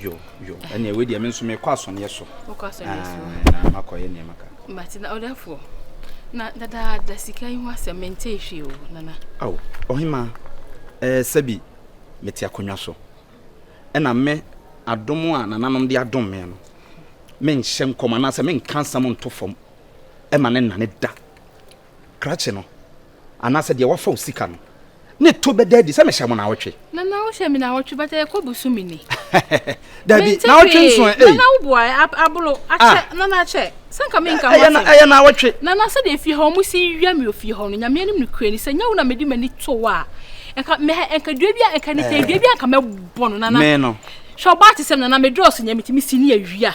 yo yo ɛnna ɛwɛ deɛ mi nso mi kɔ asɔneɛ so kɔ asɔneɛ so na ma kɔ yɛ nneɛma kan. mate na ɔdafoɔ na dada da sika yi ho asɛm mente ehwɛ o nana. awo ɔhema ɛɛ sɛbi mete akonnwa so ɛna me adom a nananom de adom me no menhyɛ nkɔm anaasɛ menka nsɛm nto fam ɛma ne nane da. krakye no anaasɛ deɛ wafa wo sika no, ne to bɛda adi sɛ mehyɛ mo naawɔtwe. Nana wohyɛ me naawɔtwe but ɛyɛ kɔ bosome ni. Dabi naawɔtwe nso ɛ. Nana wo boa ɛ abolo akyɛ ah. nana akyɛ sɛ nka me nka ho asɛm. Ɛyɛ naawɔtwe. Nana sɛ deɛ fie hɔ ɔmo si wia mi ofie hɔ no nyame anim no kure ni sɛ nyɛ wo na medi m'ani to wo a nka mɛ nka dua bi a nka ne tɛ dua bi a nka mɛbɔ no nana. Mɛ no. Hwɛ ɔbaa te sɛ nana medɔɔso nyɛ metumi si ne awia.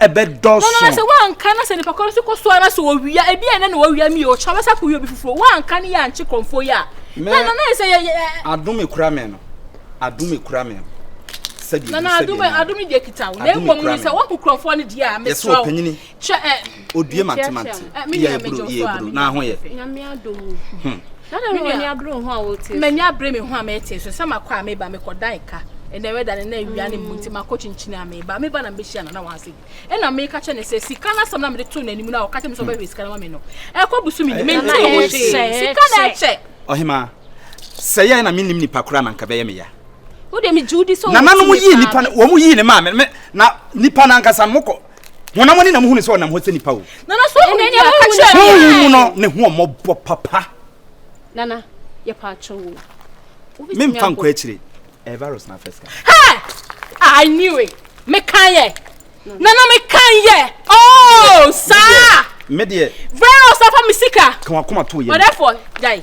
ɛbɛdɔɔso. Nanso woanka na sɛ nipa koro nso kɔ so ara sɛ owia ebi a ɛnɛ na owia mi ɔkyerɛ bɛsa kɔ obi foforɔ woanka ne yɛ ankye kɔnfoɔ yi a. na na na sɛ yɛ yɛ. adum ekura mɛ no adum ekura mɛ no sɛbi ebi sɛbi ɛna adum adum deɛ kita wo na emu mu no sɛ wɔn kɔ kurɔfoɔ no deɛ a mesra wo kyɛ ɛ. Odue mantemante. Iya eburo, iya eburo. Na ho yɛ. Nyame adom mu. Hmm. Dada no ani abere ho a wɔte. M'ani abere me ho a mɛte so. Sɛ makɔ a meba mekɔ dan ka. Ɛnɛ wɛda ne na awia ne mu nti makɔ kyinkyin a meba. Meba na mbehyia na na wansi. Ɛna meka kyɛ ne sɛ sika na sɛm na mede to n'anim na ɔka kyɛ me sɛ ɔbɛhwɛ sika na ma me no. Ɛkɔ busu me ni. Me nti ho hwee. Sika na ɛkyɛ. Ɔhema. Sɛ yɛ na menim nipa kora na nka bɛyɛ me ya. Wo de me Judy so. Nananom yi nipa no wɔn yi ne maame na nipa nankasa mokɔ honam ani na muhu ne sɛ ɔnam hɔ sɛ nipa o nana so ɔhu nea ɔka kyerɛ me honhom mu no ne ho ɔmmɔbɔ papa nana yɛpa akyɛ wo memfa nkɔ akyire ɛyɛ virus na afɛ sika hɛ ah, i knew it mekan yɛ nana mekan yɛ oh saa medeɛ virus afa me sika ka wakoma to yɛ ɔdɛfoɔ gyae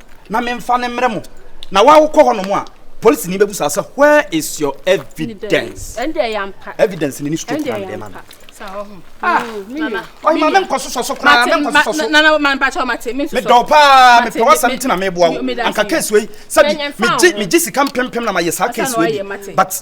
na memfa no mmrɛ mo, na wo a wokɔ hɔnom a, polisini bɛbusa sɛ, Where is your evidence? Evidence no ne straight na mede ma no. Ah, ɔhema menkɔ sosɔ so koraa, menkɔ sosɔ so. Medɔw paa, mepɛ w'asɛm nti na meboa wo. Anka case wei, sɛbi, megye sika mpempem na mayɛ saa case wei bi, but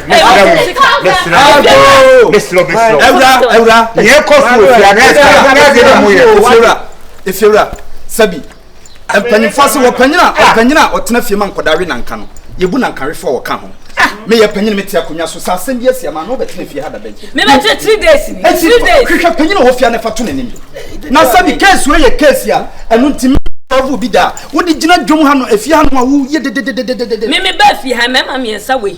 mesrɛ wo mesrɛ wo mesrɛ wo mesrɛ wo awura awura yɛ kɔ so wɔ fia na ɛsɛ na ɛsɛ na mo yɛ efiewura efiewura sɛbi mpanyinfoɔ se wɔ panyin a ɔpanyin a ɔtena fie ma nkɔda we nanka no yɛbu nanka wefoɔ a wɔka ho meyɛ panyin mete akonnwa so sɛ asɛm bi asi ama no wobɛtena fie ha dada yi mebɛkyɛ three days ni three days hwehwɛ panyin a wɔfia no fa to n'anim na sɛbi case wei yɛ case a ɛno nti ɔfo bi da wode gyina dwom ha no afie ha no a woyɛ dededededede meme bɛ afie ha mɛma mmiɛnsa wei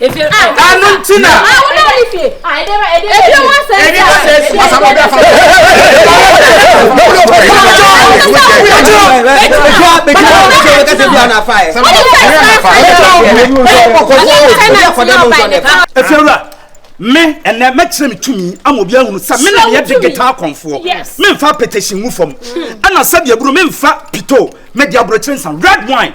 efie a ɛno nti na a wona wone fie a ɛdɛ ma ɛdɛ efie ho asɛm ɛdɛ ma sɛ si ɔsa mo bɛ fa mo efiewura me ɛnɛ mɛkyerɛ me tumi ama obi ahunu sɛ me na meyɛ de geta akɔnfoɔ memfa petition mu fam ɛna sɛdeɛ buro memfa pito mede aborɔkyere nsa red wine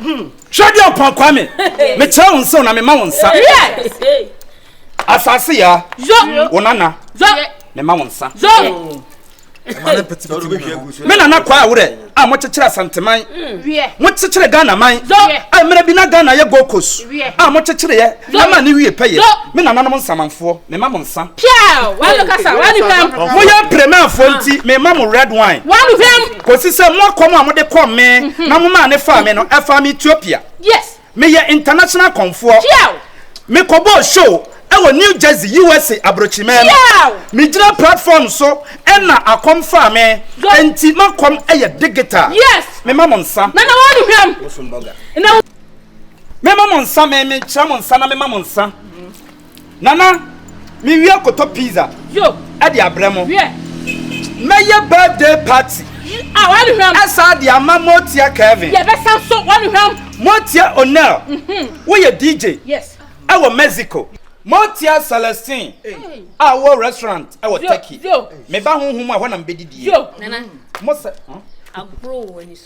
Hwɛ deɛ ɔpɔn Kwame mekyerɛ wo nsa na mema wo nsa asase ya wo nana mema wo nsa me nana kɔ a worɛ a mokyekyere asanteman mokyekyere Ghana man a mmerɛ bi na Ghana yɛ Gold Coast a mokyekyere yɛ Yɛ ma ne wie pɛyɛ, me nananom nsamanfoɔ, me ma mo nsa. Piaw! W'ano kasa, w'ano hwam. Mo yɛ Premanfoɔ nti, me ma mo red wine. W'ano hwam. Kɔsi sɛ mo akɔm a mo de kɔm me na mo maa ne faa me no, ɛfaa me Ethiopia. Yes. Me yɛ international akɔmfoɔ. Piaw! Me kɔ bɔɔ show ɛwɔ New Jersey, USA abrokyirimɛn. Piaw! Me gyina platform so ɛna akɔm faa me, ɛnti m'akɔm ɛyɛ digital. Yes. Me ma mo nsa. Nana w'ano hwam. Bosom burger. Mema mo nsa, me me kyerɛ mo nsa na mema mo nsa. Nana, me wie kɔtɔ pizza ɛde abrɛ mo. Mɛyɛ birthday party ɛsa de ama Motia Kevin. Motia Onel, woyɛ DJ ɛwɔ Mexico. Motia Celestine a wowɔ restaurant ɛwɔ Turkey. Meba honhom mu a ɛhɔ na mebɛdidie. Mo sɛ.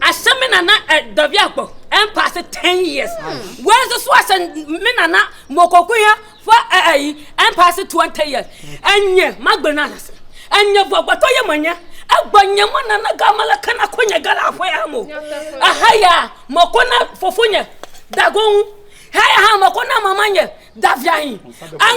ahyɛ me nana ɛ eh, dɔbi agbɔ ɛmpa ase ten years wei nso so ahyɛ me nana mɔkɔkoya fo ɛ eh, ɛyi eh, ɛmpa ase twenty years ɛnyɛ magbere no ase ɛnyɛ bɔgbɔtɔ yɛ manyɛ ɛgbɔ nyɛ mo nana gamala kana ko nyɛ gala afɔ yɛ mo aha yɛ a mɔkɔ na fofo nyɛ dagon ha yɛ ha mɔkɔ na mama nyɛ daviahin an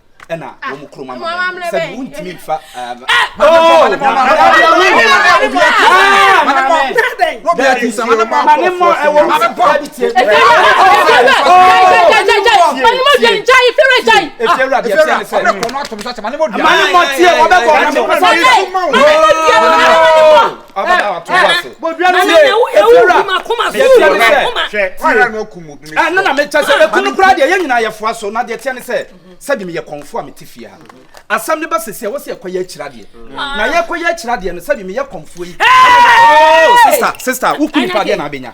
ɛna wɔn mu kurom ama mɛ sɛ wɔn ntumi nfa ɛɛ. abada ato wo ase. bodua no tie efiewura yɛtie ne sɛ hwɛ na na mekyɛ sɛ ɛku no koraa deɛ yɛn nyinaa yɛfoa so na deɛ teɛ ne sɛ sɛde meyɛ kɔmfo a mete fie ha asɛm no ba sɛsi a wɔ sɛ yɛkɔyɛ akyira deɛ na yɛkɔyɛ akyira deɛ no sɛde meyɛ kɔmfoɔ yi sista sista woku nipa deɛ na abɛnya